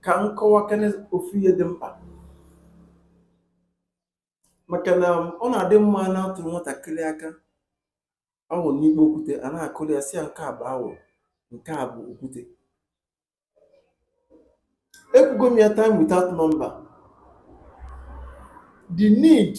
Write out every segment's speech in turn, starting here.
ka m kọwakene ofu ihe dị mkpa maka na ọ na-adị mma a na-atụ nwatakịrị aka awọ n'ikpo okwute a na-akọrọ ya sị ya nke a bụ awọ nke a bụ okwute ekwugo m ya time without number the need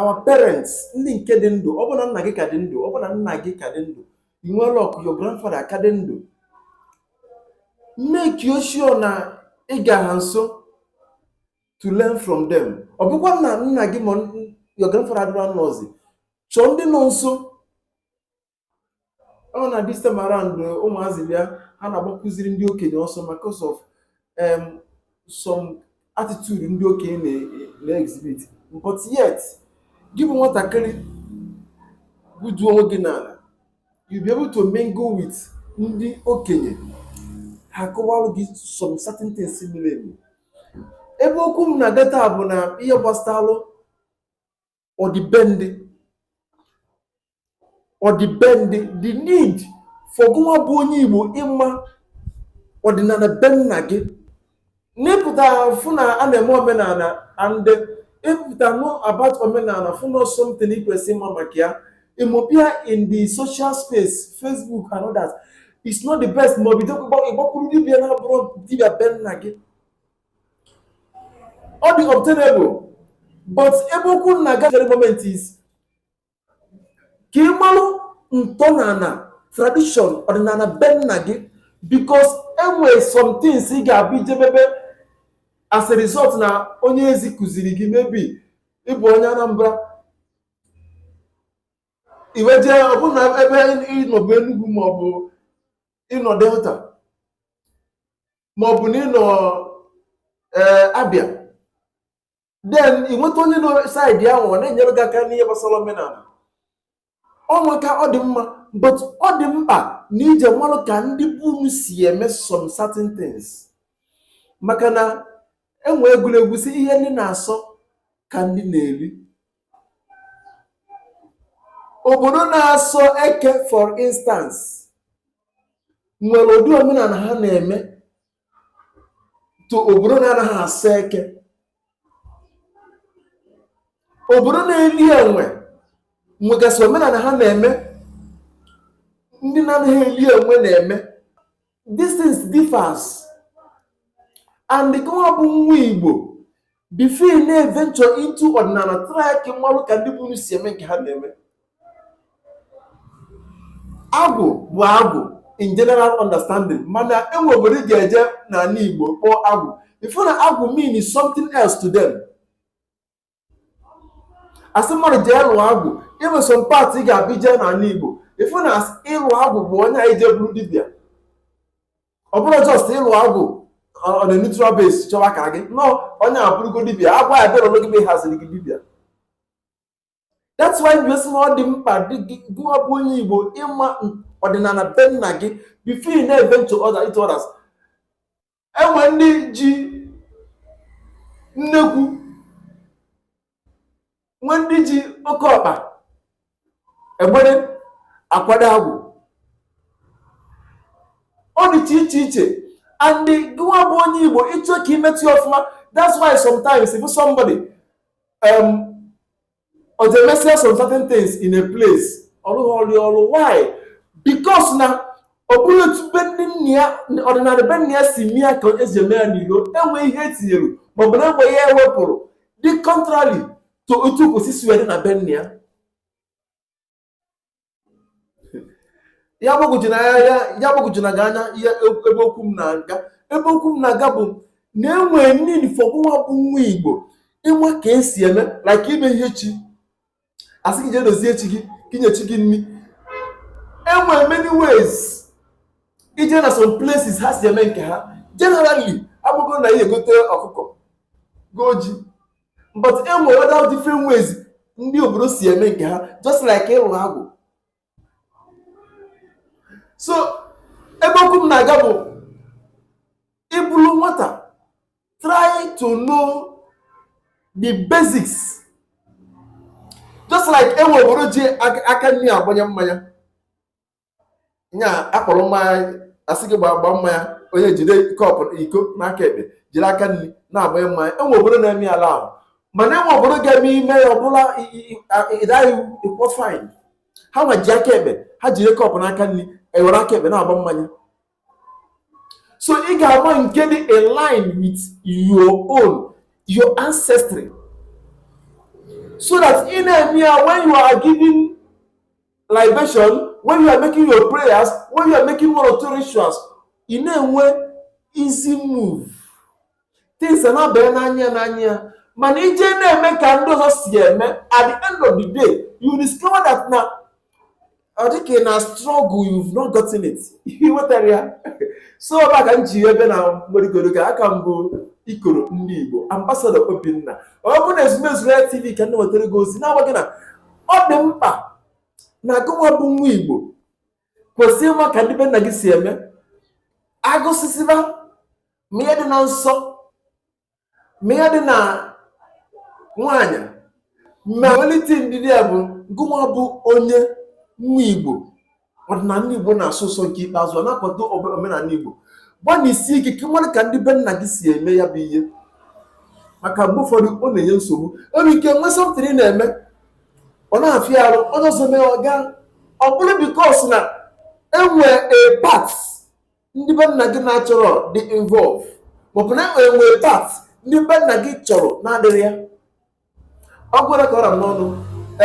our parents ndị nke dị ndụ ọ bụ na nna gị ka dị ndụ ọ bụ na nna gị ka dị ndụ i nwee luck your grandfather aka dị ndụ make sure na ị ga ha nso to learn from them ọ bụkwa na nna gị ma your grandfather adịra nọzi chọọ ndị nọ nso ọ na this time around ụmụazị bịa ha na-agbakụziri ndị okenye ọsọ because of um, some attitude ndị okenye na- na-exhibit but yet gị bụ nwatakịrị butuo onwe gị n'ala you be able to mingle with ndị okenye ha kọwara gị some certain things mere eme ebe okwu m na-aga taa bụ na ihe gbasara ọdịbendị ọdịbendị the need for gụwa bụ onye igbo ịma ọdịnala be nna gị n'ịpụta fụ na a na-eme omenala and ịpụta know about omenala fụ na something ị kwesịrị ịma maka ya ịmụbe ya in the social space facebook and others it's not the best ma ọ bụdị ịgbakwuru dibia na-abụrọ dibia be nna gị ọ dị obtainable but ebe okwu m na-aga for the moment is ka ị malụ ntọala tradition ọdịnala be nna gị because e nwere some things ị ga-abụ i jebe ebe as a result na onye ezi kụziri gị maybe ị bụ onye Anambra i wee jee ọ bụ na ebe ị nọ bụ Enugu maọbụ ị nọ Delta ma ọ bụ na ị nọ ee Abia then ị nweta onye nọ side ahụ ọ na-enyere gị aka n'ihe gbasara omenala o nwere ike ọ dị mma but ọ dị mkpa na i je marụ ka ndị be unu si eme some certain things maka na enwe egwuregwu sị ihe ndị na-asọ ka ndị na-eri obodo na-asọ eke for instance nwere ụdị omenala ha na-eme to obodo na-anaghị asọ eke obodo na-eli enwe nwegasị omenala ha na-eme ndị na-anaghị eli enwe na-eme these things differs and gịwa bụ nwa igbo before ị na-eventure into ọdịnala try ka ị mara ka ndị be unu si eme nke ha na-eme agwụ bụ agwụ in general understanding mana enwe obodo ị ga-eje n'ala igbo kpọọ agwụ ị fụ na agwụ means something else to them asị mmadụ jee lụọ agwụ in some part ị ga-abịa ije n'ala igbo ịfụ na as- ịlụ agwụ bụ onye ahụ jee bụrụ dibịa ọ bụrọ just ịlụ agwụ on a neutral base chọwa ka gị na onye abụrụgo dibịa agwa ya bịara onwe gị mgbe ị haziri gị dibịa that's why asị m na ọ dị mkpa gịwa bụ onye igbo ịma ọdịnala be nna gị before ị na-eventure into others enwe ndị ji nnekwu enwe ndị ji oke ọkpa egbere akwado agwụ ọ dịcha iche iche and gịwa bụ onye igbo ịchọ ka imetụ ya ọfụma that's why sometimes if somebody um, ọ ga-emesịa some certain things in a place ọ rụhọrọ ya ọrụ why because na ọ bụrọ otu be ndị nna ya ọdịnala be nna ya si eme ya ka esi eme ya n'ilo enwe ihe etinyere maọbụ na enwe ihe ewepụrụ dị contrary to otu o kwesị isi wee dị na be nna ya ya gbagwojuna ya gbagwojuna gị anya ihe ebe okwu m na-aga ebe okwu m na-aga bụ na enwere need for nwa bụ nwa igbo ịma ka esi eme like ime ihe chi asị gị jee dozie chi gị ka inye chi gị nri enwere many ways ị jee na some places ha si eme nke ha generally abụgo na ihe egote ọkụkọ go ji but e nwere other different ways ndị obodo si eme nke ha just like ịlụ agwụ so ebe okwu m na-aga bụ ịbụrụ nwata try to know the basics just like enwe obodo ji aka nri agbanye mmanya nya akpọrọ mmanya asị gị gbaa gbaa mmanya onye jide cup iko n'aka ekpe jiri aka nri na-agbanye mmanya enwe obodo na-eme ya ala ahụ mana enwe obodo ị ga-eme ya ọ bụrụ na ị daa ya ị kwụọ fine ha nwa ji aka ekpe ha jide cup n'aka nri ewere aka ekpe na-agba mmanya so ị ga-ama nke dị in line with your own your ancestry so that ị na-eme ya when you are giving libation when you are making your prayers when you are making one or two rituals ị na-enwe easy move things are not better n'anya n'anya mana ị je na-eme ka ndị ọzọ si eme at the end of the day you discover that na ọ dị ka ị na struggle you've not gotten it ihe wetara ya so ọ ka m ji wee bịa na mgbedogoro ka a ka m bụ ikoro ndị Igbo ambassador Obinna ọ bụ na ezumezu ya TV ka m ji wetara gị ozi na-agwa gị na ọ dị mkpa na gụnwa bụ nwa Igbo kwesị ịma ka ndị be nna gị si eme agụsịsịba ma ihe dị na nsọ ma ihe dị na nwaanyị ma welite ndidi ya bụ gụnwa bụ onye nwa igbo ọdịnala igbo na-asọ ụsọ nke ikpeazụ ọ na-akwado obe- omenala igbo gbalịsie ike ka ị mara ka ndị be nna gị si eme ya bụ ihe maka mgbe ụfọdụ ọ na-enye nsogbu e nwere ike nwee something ị na-eme ọ na-afịa arụ onye ọzọ mee ọ gaa ọ bụrụ because na enwe a part ndị be nna gị naturally dị involve maọbụ na enwe a part ndị be nna gị chọrọ na-adịrị ya ọ gwara ka ọ ra m n'ọnụ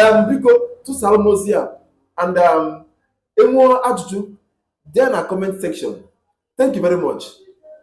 em biko tụsara m ozi a and um, ị nwee ajụjụ dee ya na comment section thank you very much